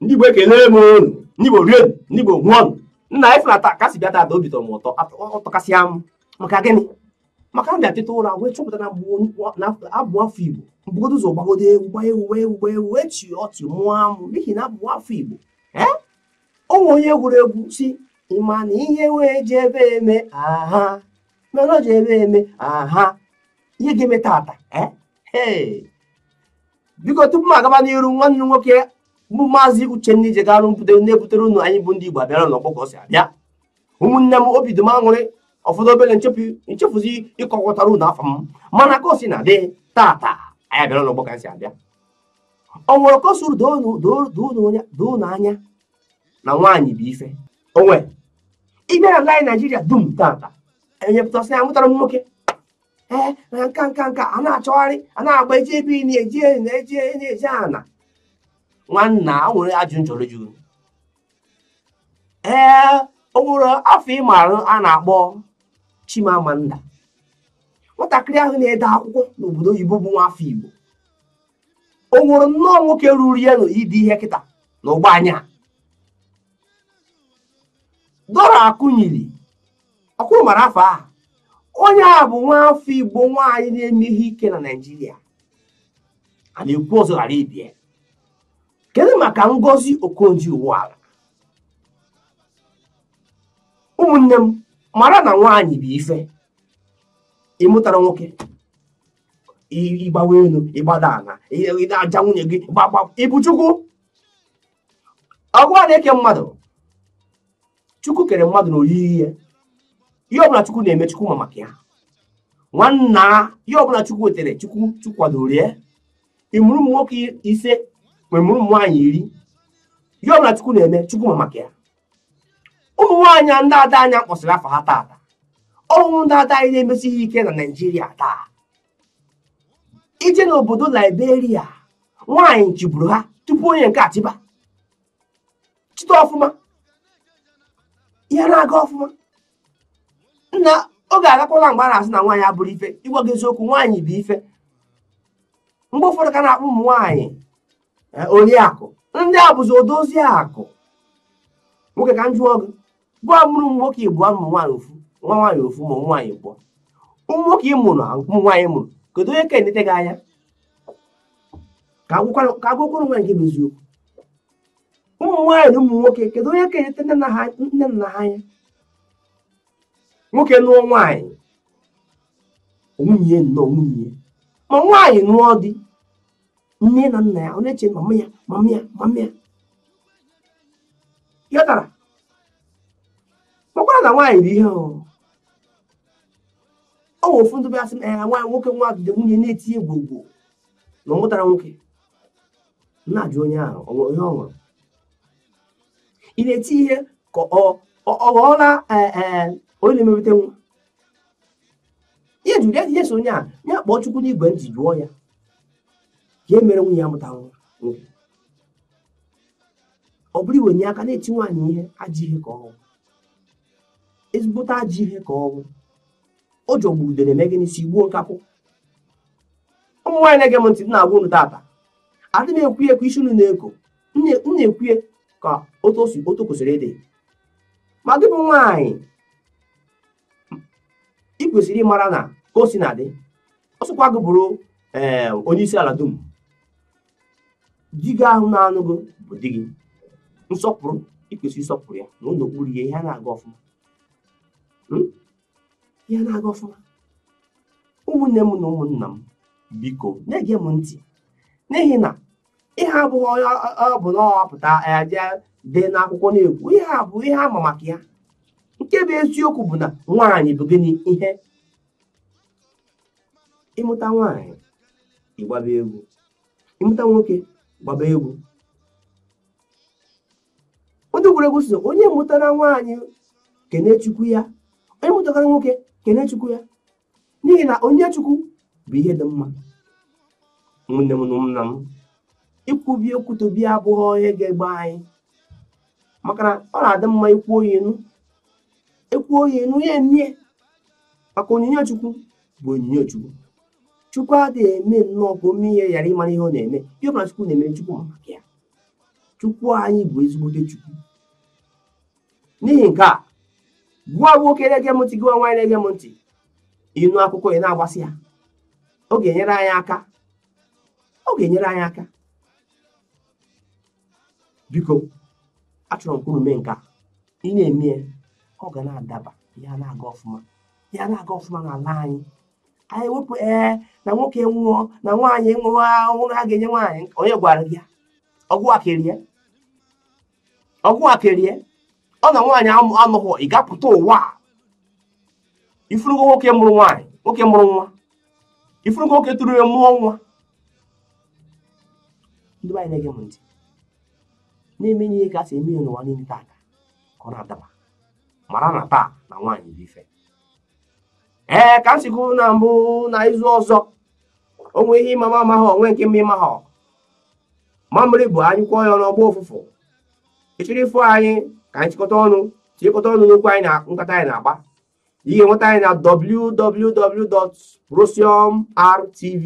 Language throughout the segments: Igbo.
ndị Igbo ekele m unu ndị Igbo rie ndị Igbo ṅụọ nna ị fụla ka si bịa tata obi tọrọ m ụtọ ọ tọkasịa m maka gịnị maka m bịa teta ụra wee chọpụta na abụ m nwa afọ igbo m bugodo ụzọ gbagodo egwu gba egwu gba egwu gba egwu chịa ọchị mụọ amụ n'ihi na abụ m nwa afọ igbo ee o nwe onye gụrụ egwu sị ị ma na ihe wee ji ebe eme aha mana o ji ebe eme aha ihe ga-eme tata ee biko tupu m agaba n'iru nwanne unu nwoke bụ maazị uchenna ijegarụ na-ebutere unu anyị bụ ndị igbo abịara n'ọgbọ ka ọ si abịa ụmụnne m obi dị m aṅụrị ọ fọdụ obere m chefuzie ịkọwatara unu afa m mana ka o sina dị tata anyị abịara n'ọgbọ ka si abịa o nwere ka o siri doo unu anya na nwaanyị bụ ife onwe ị bịa n'ala anyị naijiria dum tata onye pụta sị amụtara m nwoke ee na nka nka nka a na-achọgharị a na-agba eji ebe na eji na eji eji ana nwanna o nwere ajụjụ m chọrọ ịjụ unu ee o nwere afa ị maara a na-akpọ Chimamanda nwatakịrị ahụ na-ede akwụkwọ n'obodo oyibo bụ nwa afọ Igbo o nwere nnọọ nwoke ruru ya n'ide ihe kịta na ụgbọ anya Dora Akunyili ọkwa unu mara afa ahụ onye a bụ nwa afọ Igbo nwaanyị na-eme ihe ike na Naịjirịa a na-ekwu ọzọ ghara ịbịa kedu maka ngozi okonjo iweala ụmụnne m mara na nwaanyị bụ ife ị mụtara nwoke ị gbawa elu ị gbada ala ị na-aja nwunye gị gbagba ị bụ chukwu ọ gịwa na-eke mmadụ chukwu kere mmadụ na oyiyi ya ihe ọbụla chukwu na-eme chukwu ma maka ya nwanna ihe ọbụla chukwu wetere chukwu chukwadoro ya ị mụrụ ụmụ nwoke ise ma ị mụrụ ụmụ nwaanyị iri ihe ọbụla chukwu na-eme chukwu ma maka ya ụmụ nwaanyị ndị ada anyị m kpọsịrị afa ha taata ọ bụ ndị ada anyị na-emesi ihe ike na naijiria taa i je n'obodo liberia nwaanyị chịburu ha tupu onye nke a achịba chịta ọfụma ihe na-aga ọfụma nna oge agakwala mgbe a na-asị na nwaanyị abụrọ ife ịgwa gị eziokwu nwaanyị bụ ife mgbe ụfọdụ ka a na-akpọ ụmụ nwaanyị eh, oriakụ ndị a bụzi odozi akụ nwoke ka m jụọ gị gịwa mụrụ ụmụ nwoke ịbụọ ụmụ nwaanyị ofu nwa nwaanyị ofu ma ụmụ nwaanyị ịbụọ ụmụ nwoke ị mụrụ ka ụmụ nwaanyị ị mụrụ kedu onye ka enete gị anya ka a gwakwara onwe anyị nke bụ eziokwu ụmụ nwaanyị na ụmụ nwoke kedu onye ka enete nne nna ha anya nwoke nụọ nwaanyị nwunye nnọọ nwunye ma nwaanyị nụọ di nne na nna ya ọ na-eche mama ya ghọtara makwara na nwaanyị bụ ihe ọ wụ ofu ndị bịasị na ya nwaanyị nwoke nwa ejide nwunye na-eti egwu egwu na ọ mụtara nwoke na-ajụ onye ahụ ihe ọ nwụrụ ị na-eti ihe ka ọ ọ ghọọla e, e, onye na-emepụta nwa ihe jụrụ ya ihe so onye a ya kpọọ chukwu n'igwe ntị jụọ ya ka e mere nwunye ya mụta nwa nwoke ọ bụrụ iweni aka na-eti nwaanyị ihe ajọ ihe ka ọ wụ ezigbote ajọ ihe ka ọ wụ o ji ogbu udene eme gịnị si gbuo nkakwụ ụmụ nwaanyị na-ege m ntị na-agwa unu tata adị m ekwu ya ka isi unu na-eko m na-ekwu ya ka otu o si otu o kwesịrị ịdị ma gị bụ nwaanyị ị kwesịrị ịmara na ka o si na-adị ọ sọkwa gị bụrụ eh, onye isi ala dum di gị ahụ na-anụ gị bụ di gị nsọpụrụ ị kwesịrị ịsọpụrụ ya nọrọ n'okpuru ya ihe ana-aga ọfụma hmm? ya na-aga ọfụma ụmụnne m na ụmụnna m biko na-ege m ntị n'ihi na ihe a abụghị onye ọbụna pụta ya jee dee n'akwụkwọ na-ekwu ihe a bụ ihe a ma maka ya nke bụ eziokwu bụ na nwaanyị bụ gịnị ihe ị mụta nwaanyị gbaba egwu ị mụta nwoke gbaba egwu ndị egwuregwu sị onye mụtara nwaanyị kene chukwu ya onye mụtara nwoke kene chukwu ya n'ihi na onyinye chukwu bụ ihe dị mma ụmụnne m na ụmụnna m ikwubi okwu tobi abụghị ihe ga-egbe anyị maka na ọ na-adị mma i kwuo ya enu e kwuo ya enu ya emie maka onyinye chukwu bụ onyinye chukwu chukwu adịghị eme nnọọ ka o mee ihe ghara ịmara ihe ọ na-eme ihe ọbụla chukwu na-eme chukwu ma maka ya chukwu anyị bụ ezigbote chukwu n'ihi nke a gị wụ nwoke na-ege m ntị gị wụ nwaanyị na-ege m ntị ị nụ akụkọ ị na-agbasa ya ọ ga-enyere anyị aka ọ ga-enyere anyị aka biko achọrọ m ka unu mee nke a ị na-eme ya ọ ga na-adaba ya na-aga ọfụma ya na-aga ọfụma n'ala anyị anyị wepụ ee na nwoke nwụọ na nwaanyị nwere ahụhụ a ga-enye nwaanyị onye gwara gị ya ọgwụ akerie ọgwụ akerie ọ na nwaanyị anọghị ị ga-apụta ụwa ị fụrụgo nwoke mụrụ nwaanyị nwoke mụrụ nwa ị fụrụgo nwoke tụrụ ime mụọ nwa ndị be anyị na-ege m ntị na-eme ihe ka a si eme ya n'ụwa niile taa ka ọ na-adaba mara na taa na nwaanyị bụ ife ee ka m si kwu na mbụ na izu ọzọ o nwere ihe ị ma m amaghị o nwee nke m ma ị maghọ mamịrị bụ a nyụkọọ ya ọnụ ọ gbọọ ụfụfụ ị chọrọ ịfụ anyị ka anyị chịkọta ọnụ chịkọta ọnụ n'okwu anyị na nkata anyị na-agba ị ga-enweta anyị na www.rosium.rtv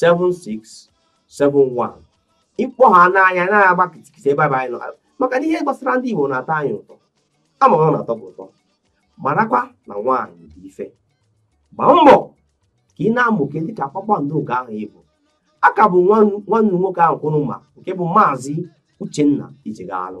7671 ị kpọọ ha n'anya na-agba kịtịkịtị ebe anyị nọ maka na ihe gbasara ndị Igbo na-atọ anyị ụtọ ama ọ na-atọ gị ụtọ marakwa na nwaanyị dị ife gbaa mbọ ka ị na-amụke dịka kpakpando nke ahụ ị bụ aka bụ nwanne unu nwoke ahụ kwụrụ ma nke bụ maazị Uchenna Ijegalụ